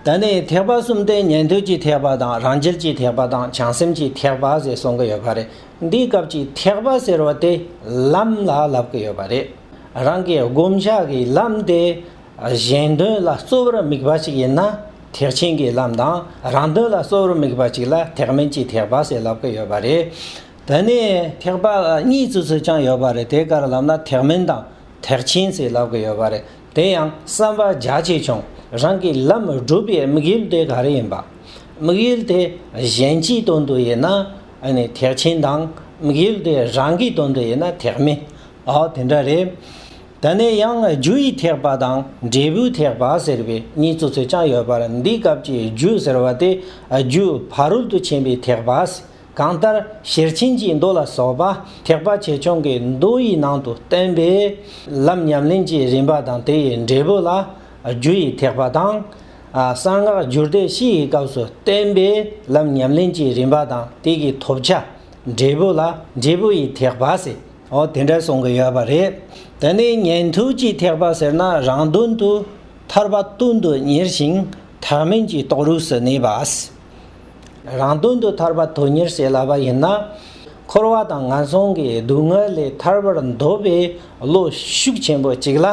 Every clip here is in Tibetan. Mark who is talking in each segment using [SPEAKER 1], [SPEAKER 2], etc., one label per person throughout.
[SPEAKER 1] ད་ནི་ཐེག་པ་གསུམ་སྟེ་ཉན་ཐོས་ཀྱི་ཐེག་པ་དང་རང་རྒྱལ་གྱི་ཐེག་པ་དང་བྱང་སེམས་ཀྱི་ཐེག་པ་ཞེས་གསུང་གི་ཡོད་པ་རེད། འདིའི་སྐབས་ཀྱི་ཐེག་པ་ཟེར་བ་དེ་ལམ་ལ་ལབ་ཀྱི་ཡོད་པ་རེད། རང་གི་བསྒོམ་བྱ་ཀྱི་ལམ་དེ་གཞན་དོན་ལ་གཙོ་བོར་དམིགས་པ་ཞིག་ཡིན་ན་ཐེག་ཆེན་གྱི་ལམ་དང་རང་དོན་ལ་གཙོ་བོར་དམིགས་པ་ཅིག་ལ་ཐེག་དམན་གྱི་ཐེག་པ་ཞེས་ལབ་ཀྱི་ཡོད་པ་རེད། ད་ནི་ཐེག་པ་གཉིས་སུ་ཚུད་ཀྱང་ཡོད་པ་རེད་དེ་གར་ལབ་ན་ཐེག་དམན་དང་ཐེག་ཆེན་ཞེས་ལབ་ཀྱི་ཡོད་པ་རེད། དེ་ཡང་བསམ་པ་རྒྱ་ཆེ་ཆུང་རང་གི་ལམ་བསྒྲུབ་པའི་དམིགས་ཡུལ་དེ་ག་རེ་ཡིན་པ། དམིགས་ཡུལ་དེ་གཞན་གྱིས་དོན་དུ་ཡིན་ན་ཐེག་ཆེན་དང། དམིགས་ཡུལ་དེ་རང་གིས་དོན་དུ་ཡིན་ན་ཐེག་དམན། འོ་དེ་འདྲ་རེད། དེ་ནས་ཡང་རྒྱུ་ཡི་ཐེག་པ་དང་འབྲས་བུའི་ཐེག་པ་ཟེར་བའི་གཉིས་སོ་སོ་ཀྱང་ཡོད་པར་འདིའི་སྐབས་ཀྱི་རྒྱུ་ཟེར་བ་དེ་རྒྱུ་ཕ་རོལ་ཏུ་ཕྱིན་པའི་ཐེག་པ། གང་ལྟར་ཤེར་ཕྱིན་གྱི་མདོ་ལ་སོགས་པ་ཐེག་པ་ཆེ་ཆུང་གི་མདོ་ཡི་ནང་དུ་བསྟན་པས། ལམ་ཉམས་ལེན་གྱི་རིམ་པ་དང་དེ་ཡི་འབྲས་བུ་ལ་རྒྱུ་ཡི་ཐེག་པ་དང། གསང་སྔགས་བསྒྱུར་བཟླས་བཞི་ཡི་སྐབས་སུ་བསྟན་པས་ལམ་ཉམས་ལེན་གྱི་རིམ་པ་དང་དེ་ཀྱི་ཐོབ་བྱ་འབྲས་བུ་ལ་འབྲས་བུ་ཡི་ཐེག་པ་ཟེར། འོ་དེ་འདྲ་གསུང་གི་ཡོད་པ་རེད། དེ་ནས་ཉན་ཐོས་ཀྱི་ཐེག་པ་ཟེར་ན་རང་དོན་དུ་ཐར་པ་སྟོན་དུ་གཉེར་ཞིང་ཐག་མེད་ཀྱི་རྟོགས་རུས་སུ་གནས་པ། རང་དོན་དུ་ཐར་པ་དོན་གཉེར་བྱེད་སླ་བ་ཡིན་ན། འཁོར་བ་དང་ངན་སོང་གི་སྡུག་བསྔལ་ལས་ཐར་བར་འདོད་པའི་བློ་ཤུགས་ཆེན་པོ་གཅིག་ལ་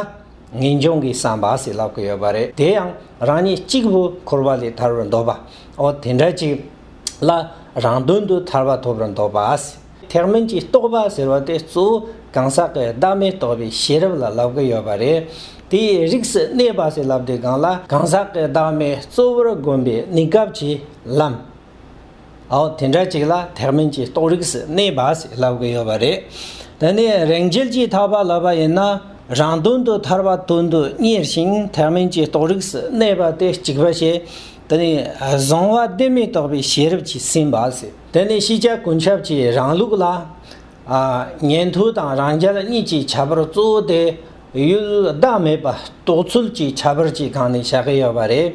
[SPEAKER 1] ངེས་འབྱུང་གི་བསམ་པ་བྱེད་སླ་གི་ཡོད་པ་རེད་དེ་ཡང་རང་ཉིད་གཅིག་བུ་འཁོར་བ་ལས་ཐར་བར་འདོད་པའོ་དེ་འདྲ་གཅིག་ལ་རང་དོན་དུ་ཐར་པ་ཐོབ་པར་འདོད་པ། ཐེག་དམན་གྱི་རྟོགས་པ་ཟེར་བ་དེ་གཙོ་བོ་གང་ཟག་གི་བདག་མེད་རྟོགས་པའི་ཤེས་རབ་ལ་ལབ་ཀི་ཡོད་པ་རེད། དེས་རིགས་སུ་གནས་པ་ཟེར་ལབ་དེ་གང་ལ་གང་ཟག་གི་བདག་མེད་གཙོ་བོར་བསྒོམ་པའི་གནས་སྐབས་ཀྱི་ལམ། ཨའོ་དེ་འདྲ་ཅིག་ལ་ཐེག་དམན་གྱི་རྟོགས་རིགས་སུ་གནས་པ་ཟེར་ལབ་ཀི་ཡོད་པ་རེད། དེ་ནས་རེག་འཇལ་གྱིས་ཐར་པ་ལབ་པ་ཡིན་ན་རང་དོན་དུ་ཐར་པ་དོན་དུ་གཉེར་ཞིང་ཐེག་དམན་གྱི་རྟོགས་རིགས་སུ་གནས་པ་དེ་གཅིག་པ་བྱས། དེ་ནས་བཟང་བ་བདེན་མེད་རྟོགས་པའི་ཤེས་རབ་ཀྱིས་ཟིན་པ་ཟེར། དེ་ནི་ཤེས་བྱ་ཀུན་ཁྱབ་ཀྱི་རང་ལུགས་ལ། ཉན་ཐོས་དང་རང་རྒྱལ་གཉིས་ཀྱི་བྱ་བར་གཙོ་བོ་དེ་ཡུལ་བདག་མེད་པ་རྟོགས་ཚུལ་གྱི་ཁྱད་པར་གྱི་སྒང་ནས་བྱ་གི་ཡོད་པ་རེད།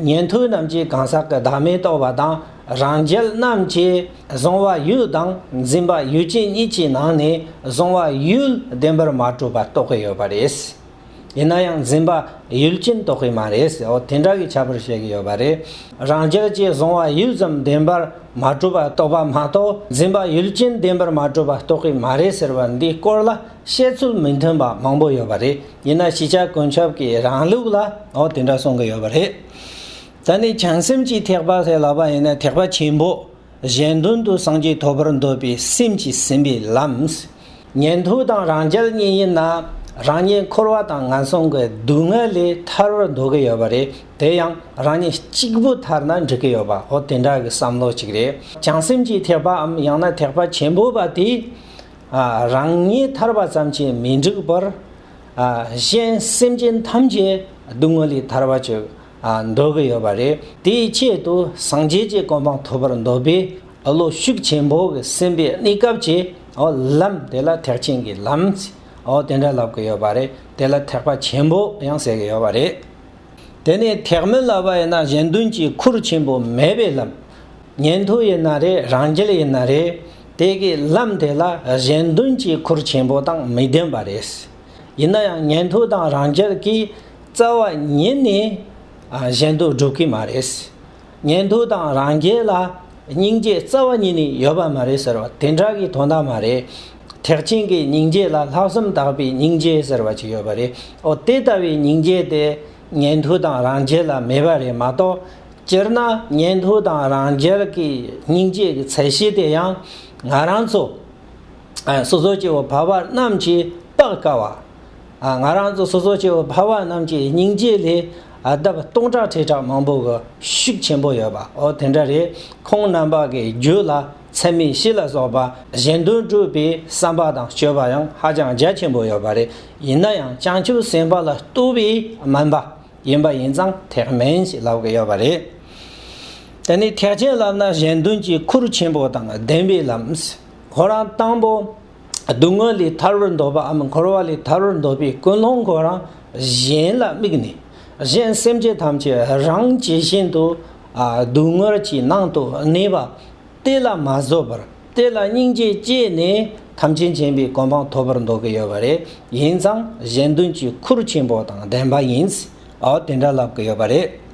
[SPEAKER 1] ཉན་ཐོས་རྣམས་ཀྱིས་གང་ཟག་གི་བདག་མེད་རྟོགས་པ་དང་རང་རྒྱལ་རྣམས་ཀྱིས་གཟུང་བ་ཡུལ་དང་འཛིན་པ་ཡུལ་ཅན་གཉིས་ཀྱི་ནང་ནས་གཟུང་བ་ཡུལ་བདེན་པར་མ་གྲུབ་པ་རྟོགས་ཀྱི་ཡོད་པ་རེད། ཡིན་ན་ཡང་འཛིན་པ་ཡུལ་ཅན་རྟོགས་གི་མ་རེད་ཟེར་འོ་དེ་འདྲ་གི་བྱ་བར་བཤད་གི་ཡོད་པ་རེད། རང་རྒྱལ་གྱི་གཟུང་བ་ཡུལ་ཙམ་བདེན་པར་མ་གྲུབ་པ་རྟོགས་པ་མ་གཏོགས་འཛིན་པ་ཡུལ་ཅན་བདེན་པར་མ་གྲུབ་པ་རྟོགས་གི་མ་རེད་ཟེར་བ་འདི་སྐོར་ལ་བཤད་ཚུལ་མི་མཐུན་པ་མང་པོ་ཡོད་པ་རེད་ཡིན་ན་གཞི་ཆགས་ཀུན་ཁྱབ་ཀྱི་རང་ལུགས་ལ་འོ་དེ་འདྲ་གསུང་གི་ཡོད་པ་རེད། ད་ནི་བྱང་སེམས་ཀྱི་ཐེག་པ་ལས་ལག་པ་ཡིན་ན་ཐེག་པ་ཆེན་པོ། གཞན་དོན་དུ་སངས་རྒྱས་ཐོབ་པར་འདོད་པའི་སེམས་ཀྱིས་ཟིན་པའི་ལམ། ཉན་ཐོས་དང་རང་རྒྱལ་གཉིས་ཡིན་ན་རང་ཉིད་འཁོར་བ་དང་ངན་སོང་གི་སྡུག་བསྔལ་ལས་ཐར་བར་འདོད་ཀྱི་ཡོད་པ་རེད་དེ་ཡང་རང་ཉིད་གཅིག་པུ་ཐར་ན་འགྲིག་གི་ཡོད་པ་འོ་དེ་འདྲ་གི་བསམ་བློ་གཅིག་རེད་བྱང་སེམས་ཀྱི་ཐེག་པའམ་ཡང་ན་ཐེག་པ་ཆེན་པོ་པ་དེས་རང་ཉིད་ཐར་བ་ཙམ་གྱིས་མི་འགྲིག་པར། གཞན་སེམས་ཅན་ཐམས་ཅད་སྡུག་བསྔལ་ལས་ཐར་བར་བྱེད། འདོད་ཀྱི་ཡོད་པ་རེད། དེའི་ཆེད་དུ་སངས་རྒྱས་ཀྱི་གོ་འཕང་ཐོབ་པར་འདོད་པས་བློ་ཤུགས་ཆེན་པོས་སེམས་པའི་གནས་སྐབས་ཀྱི་ལམ་དེ་ལ་ཐེག་ཆེན་གྱི་ལམ་དེ་འདྲ་ལབ་ཀྱི་ཡོད་པ་རེད། དེ་ལ་ཐེག་པ་ཆེན་པོ་ཡང་ཟེར་གྱི་ཡོད་པ་རེད། དེ་ནས་ཐེག་མི་ལབ་པ་ཡིན་ན་གཞན་དོན་གྱི་ཁུར་ཆེན་པོ་མེད་པའི་ལམ། ཉན་ཐོས་ཡིན་ན་རེད་རང་རྒྱལ་ཡིན་ན་རེད། དེ་གའི་ལམ་དེ་ལ་གཞན་དོན་གྱི་ཁུར་ཆེན་པོ་དང་མི་ལྡན་པ་རེད། ཡིན་ན་ཡང་ཉན་ཐོས་དང་རང་རྒྱལ་གྱི། རྩ་བ་ཉིད་ནས་གཞན་དུ་སྒྲུབ་ཀྱི་མ་རེད། ཉན་ཐོས་དང་རང་རྒྱལ་ལ་སྙིང་རྗེ་རྩ་བ་ཉིད་ནས་ཡོད་པ་མ་རེད་ཟེར་བ་དེ་འདྲ་གི་དོན་དག་མ་རེད། ཐེག་ཆེན་གྱི་སྙིང་རྗེ་ལ་ལྷག་བསམ་དག་པའི་སྙིང་རྗེ་ཟེར་བ་ཅིག་ཡོད་པ་རེད། འོ་དེ་ལྟ་བུའི་སྙིང་རྗེ་དེ་ཉན་ཐོས་དང་རང་རྒྱལ་ལ་མེད་པ་རེད་མ་གཏོགས། སྤྱིར་ན་ཉན་ཐོས་དང་རང་རྒྱལ་གྱི་སྙིང་རྗེ་གི་ཚད་གཞི་དེ་ཡང་ང་རང་ཚོ་སོ་སོ་སྐྱེ་བོ་བར་བར་རྣམས་ཀྱིས་དཔག་དཀའ་བ། ང་རང་ཚོ་སོ་སོ་སྐྱེ་བོ་འཕགས་པ་རྣམས་ཀྱི་སྙིང་རྗེ་ལས་ལྡབ་སྟོང་ཕྲག་ཁྲི་ཕྲག་མང་པོ་གི་ཤུགས་ཆེན་པོ་ཡོད་པའོ་དེ་འདྲ་རེད། ཁོང་རྣམ་པ་གི་རྒྱུད་ལ་ཚད་མེད་བཞི་ལ་སོགས་པ་གཞན་དོན་སྤྲུལ་པའི་བསམ་པ་དང་སྤྱོད་པ་ཡང་ཧ་ཅང་རྒྱ་ཆེན་པོ་ཡོད་པ་རེད། ཡིན་ན་ཡང་བྱང་ཆུབ་སེམས་དཔའ་ལ་བསྟོད་པའི་སྨན་པ་ཡིན་པ་ཡིན་ཙང་ཐེག་དམན་ཞིག་ལབ་ཀྱི་ཡོད་པ་རེད། དེ་ནས་ཐེག་ཆེན་ལབ་ན་གཞན་དོན་གྱི་ཁུར་ཆེན་པོ་དང་ལྡན་པའི་ལམ། ཁོ་རང་དང་པོ། སྡུག་བསྔལ་ལས་ཐར་བར་འདོད་པའམ་འཁོར་བ་ལས་ཐར་བར་འདོད་པའི་ཀུན་སློང་གོ་རང་གཞན་ལ་དམིགས་ནས་གཞན་སེམས་ཅན་ཐམས་ཅད་རང་ཇི་བཞིན་དུ་སྡུག་བསྔལ་གྱི་ནང་དུ་གནས་པ་དེ་ལ་མ་བཟོད་པར་དེ་ལ་སྙིང་རྗེ་སྐྱེས་ནས་ཐམས་ཅད་མཁྱེན་པའི་གོ་འཕང་ཐོབ་པར་འདོད་ཀྱི་ཡོད་པ་རེད་ཡིན་ཙང་གཞན་དོན་གྱི་ཁུར་ཆེན་པོ་དང་ལྡན་པ་ཡིན་ཨོ་དེ་འདྲ་ལབ་ཀྱི་ཡོད་པ་རེད།